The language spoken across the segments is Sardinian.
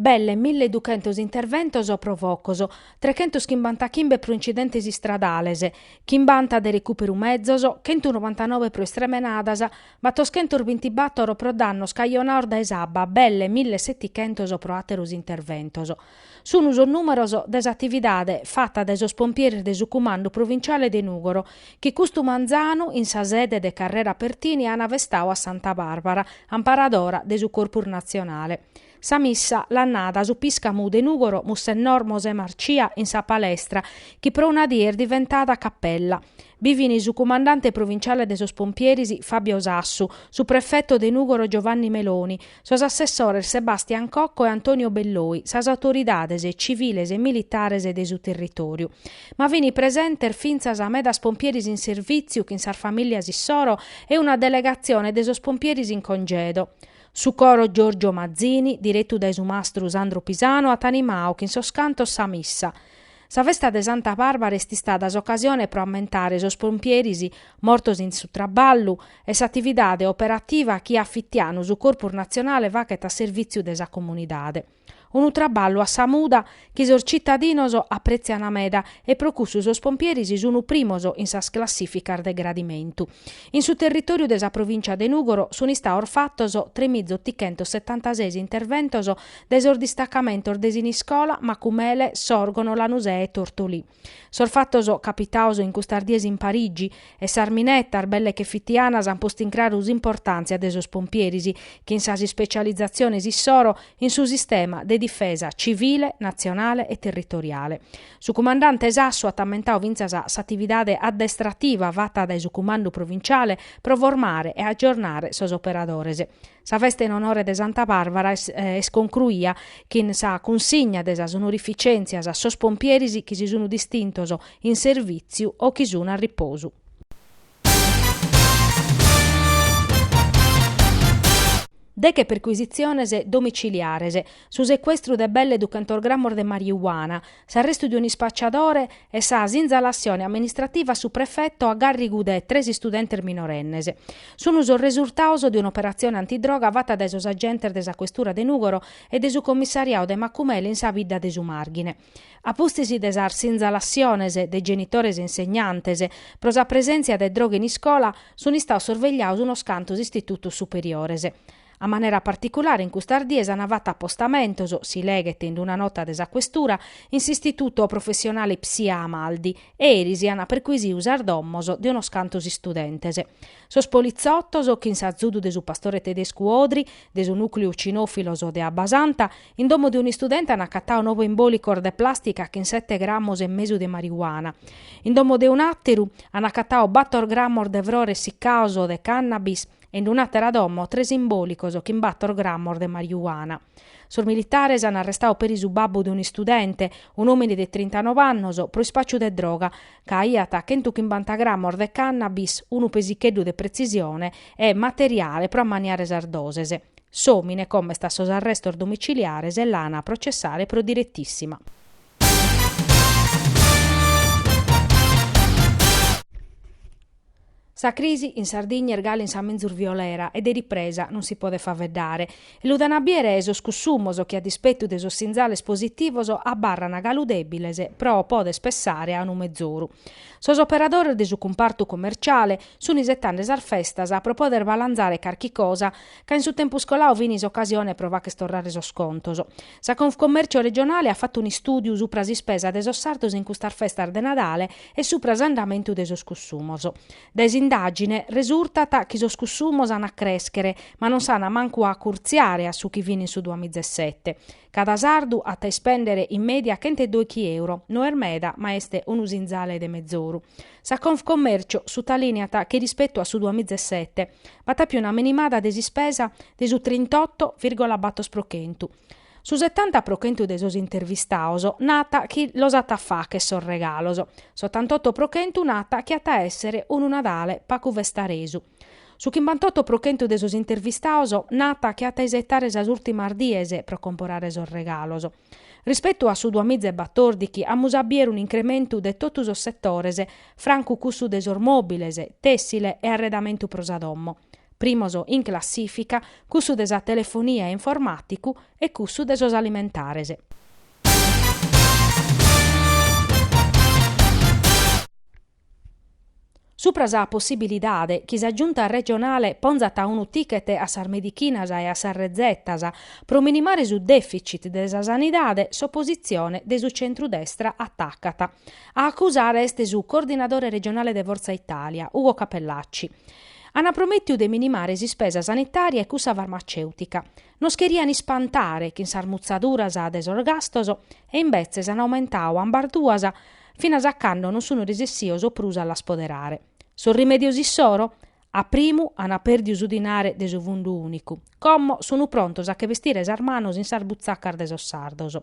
Belle mille duchentos interventos pro focos, trechentos chimbantachimbe pro incidentes istradales, chimbanta de recùperu mezos, chentu novantanobe pro istremenadas, battoschentos bintibàtoro pro dannos cajonados dae s'abba, belle mille setichentos pro àteros interventos. Sun sos nùmeros de s'atividade fata dae sos pompieris de su Cumandu Provinciale de Nùgoro, chi custu manzanu, in sa sede de Carrera Pertini, an festadu a Santa Barbara, amparadora de su Corpus Natzionale. Sa missa l'at nada su piscamu de Nùgoro Mussennor Mosè Marcia in sa palestra, chi pro una die est diventada capella. Bi fin su Cumandante Provinciale de sos Pompieris Fabio Sassu, su Prefeto de Nùgoro Giovanni Meloni, Sos assessores Sebastian Cocco e Antonio Belloi, sas autoridades tziviles e militares de su territòriu. Ma fin presentes fintzas medas pompieris in servìtziu chin sas famìlias issoro e una delegatzione de sos pompieris in congedo. Su coro Giorgio Mazzini, diretu dae su mastru Sandro Pisano at animadu chin sos cantos sa missa. Sa festa de Santa Barbara est istada s'ocasione pro ammentare sos pompieris mortos in su traballu e s'atividade operativa chi a fitianu su Corpus Natzionale faghet a servìtziu de sa comunidade. Unu traballu a sa muda chi sos tzitadinos aprètzian meda e pro cussu sos pompieris sun primos in sas classìficas de gradimentu. In su territòriu de sa provìncia de Nùgoro sun istados fatos tremizotichentossetantases interventos De sos distacamentos de Siniscola, Macumele, Sòrgono, Lanusè e Tortolì. Sos fatos capitados in custas dies in Parigi, e sas minetas, belle che fitianas, an postu in craru s'importàntzia de sos pompieris, chin sas ispecializatziones issoro in su sistema de difesa tzivile, natzionale e territoriale. Su cumandante Sassu at ammentadu fintzas s'atividade addestrativa fata dae su cumandu provinciale pro formare e agiornare sos operadores. Sa festa in onore de Santa Barbara est concruia chin sa cunsigna de sas onorificentzias a sos pompieris chi si sun distintos in servìtziu o chi sun a riposu. Deche percuisitziones domiciliares. Su secuestru de belle duchentos grammos de mariuana. S'arrestu de un'ispacciadore e sa sinzalassione amministrativa a su prefetto a gàrrigu de tres istudentes minorennes sun sos resurtados de un'operatzione antidroga fata dae sos agentes de sa Questura de Nùgoro e de su Commissariadu de Macumele in sa bidda de su Màrghine. A pustis de sas sinzalassiones de genitores e insegnantes pro sa presèntzia de droga in iscola, sun istados sorvegliados unos cantos istitutos superiores. A manera particulare in custas dies ant fatu apostamentos, si leghet in una nota de sa Questura, in s'Istituto Professionale Ipsia Amaldi e eris ant perquisiu sas domos de unos cantos istudentes. Sos politzotos, chin s'azudu de su pastore tedescu Odry, de su Nucleu Cinofilos de Abbasanta, in domo de un'istudente ant acatadu noe imbòlicos de plàstica chin sete grammos e mesu de marijuana. In domo de un'àteru ant acatadu bator grammos de frores siccados de cannabis e in un'àtera domo tres imbòlicos chin bator grammos de mariuana. Sos militares an arrestadu peri su babbu de un'istudente, un'òmine de trintanove annos, pro ispàciu de droga, ca aiat chentu chimbanta grammos de cannabis, unu pesicheddu de pretzisione e materiale pro ammaniare sas doses. S'òmine como est a sos arrestos domiciliares e l'an a processare pro diretissima. Sa crisi in Sardigna est galu in sa menzus violera e de ripresa non si podet faveddare. E lu dant a biere sos cussumos chi a dispetu de sos sinzales positivos abarran galu debiles pro poder pessare a unu mezoru. Sos operadores de su cumpartu comerciale sun isetande sas festas pro poder balanzare carchi cosa ca in su tempus coladu fin s'ocasione pro facher torrare sos contos. Sa Confcommercio regionale at fatu un'istùdiu supra s'ispesa de sos sardos in custas festas de Nadale e supra s'andamentu de sos cussumos. Dae s'indàgine resurtat chi sos cussumos an a crèschere, ma non s'an mancu a acurtziare a su chi fin in su duamizesete. Cada sardu at a ispèndere in mèdia chentu e dòichi euro, no est meda, ma est unu sinzale de mezoru. Sa Confcommercio sutalìneat chi rispetu a su duas miza e sete b'at a piu una minimada de s'ispesa de su trintotto virgola bator pro chentu. Su setanta pro chentu de sos intervistados naat chi los at a facher sos regalos, s'ottantotto pro chentu naat chi at a èssere unu Nadale pagu festaresu. Su chimbantotto pro chentu de sos intervistados naat chi at a isetare sas ùrtimas dies pro comporare sos regalos. Rispetu a su duamiza e batòrdighi amus a biere un'incrementu de totu sos setores, francu cussu de sos mòbiles, tèssile e arredamentu pro sa domo. Primos in classìfica cussu de sa telefonia e informàticu e cussu de sos alimentares. Supra sa possibilidade chi sa Giunta regionale ponzat unu ticket a sas medichinas e a sas rezetas pro minimare su deficit de sa sanidade, s'opositzione de su centru-destra atacat. A acusare est su coordinadore regionale de Forza Italia, Ugo Cappellacci. Ant promètiu de minimare s'ispesa sanitària e cussa farmacèutica. Nos cherian ispantare chin sas mutzaduras de sos gastos e imbetzes an aumentadu ambas duas finas a cando non sun resessios prus a las poderare. Sos rimedios issoro? A primu an pediu su dinare de su fundu unicu, como sun prontos a che bestire sas manos in sas butzacas de sos sardos.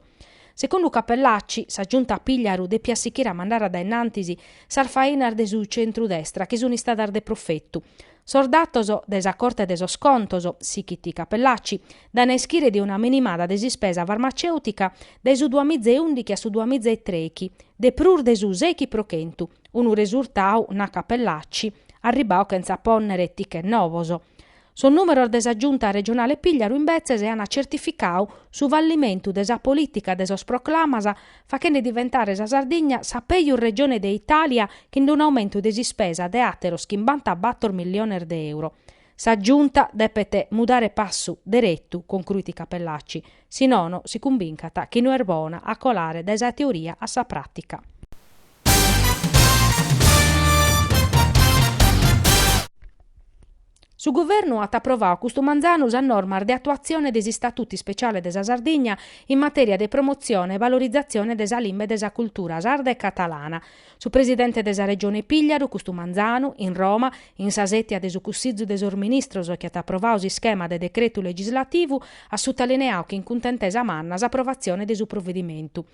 Segundu Cappellacci, sa Giunta Pigliaru depiat sichire a mandare a dae innantis sas fainas de su centru-destra chi sunt istadas de profetu. Sos datos de sa Corte de sos Contos, sichit Cappellacci, dan a ischire de una minimada de s'ispesa farmacèutica dae su duas miza e ùndighi a su duas miza e trèighi de prus de su sèighi pro chentu, unu resurtadu, nat Cappellacci, arribadu chentza pònnere ticket novos. Sos nùmeros de sa Giunta regionale Pigliaru imbetzes ant tzertificadu su fallimentu de sa polìtica de sos proclamas, faghende diventare sa Sardigna sa pègius Regione de Itàlia chin unu aumentu de s'ispesa de àteros chimbantabator milliones de euro. Sa Giunta depet mudare passu deretu, concruit Cappellacci, si nono si cumbincant chi no est bona a colare dae sa teoria a sa pràtica. Su Guvernu at aprovadu custu manzanu sas normas de atuatzione de s'Istatutu Ispeciale de sa Sardigna in matèria de promotzione e valorizatzione de sa limba e de sa cultura sarda e catalana. Su Presidente de sa Regione Pigliaru custu manzanu, in Roma, in sa sètia de su Cussizu de sos Ministros chi at aprovadu s'ischema de decretu legislativu, at sutalineadu chin cuntentesa manna s'aprovatzione de su provedimentu.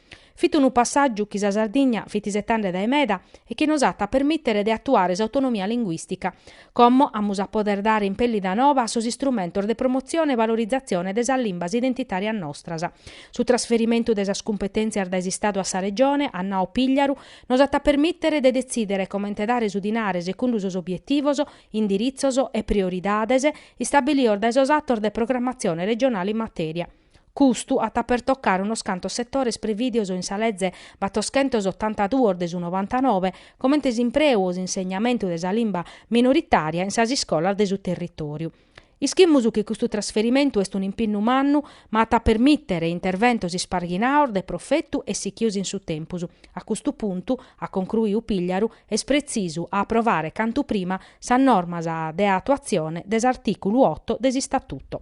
Fit unu passàgiu chi sa Sardigna fit isetande dae meda e chi nos at a permìtere de atuare s'autonomia linguìstica. Como amus a poder dare impèllida nova a sos istrumentos de promotzione e valorizatzione de sas limbas identitàrias nostras. Su trasferimentu de sas cumpetèntzias dae s'Istadu a sa Regione, at nau Pigliaru, nos at a permìtere de detzìdere comente dare su dinare secundu sos obietivos, indiritzos e prioridades istabilidos dae sos atos de programmatzione regionale in matèria. Custu at a pertocare unos cantos setores prevìdios in sa Lege battoschentos otanta duos de su novantanove, comente s'impreu o s'insegnamentu de sa limba minoritària in sas iscolas de su territòriu. Ischimus chi custu trasferimentu est un'impinnu mannu, ma at a permìtere interventos isparghinados de profetu e sichios in su tempus. A custu puntu, at concruiu Pigliaru, est pretzisu a aprovare cantu prima sas normas de atuatzione de s'artìculu oto de s'Istatuto.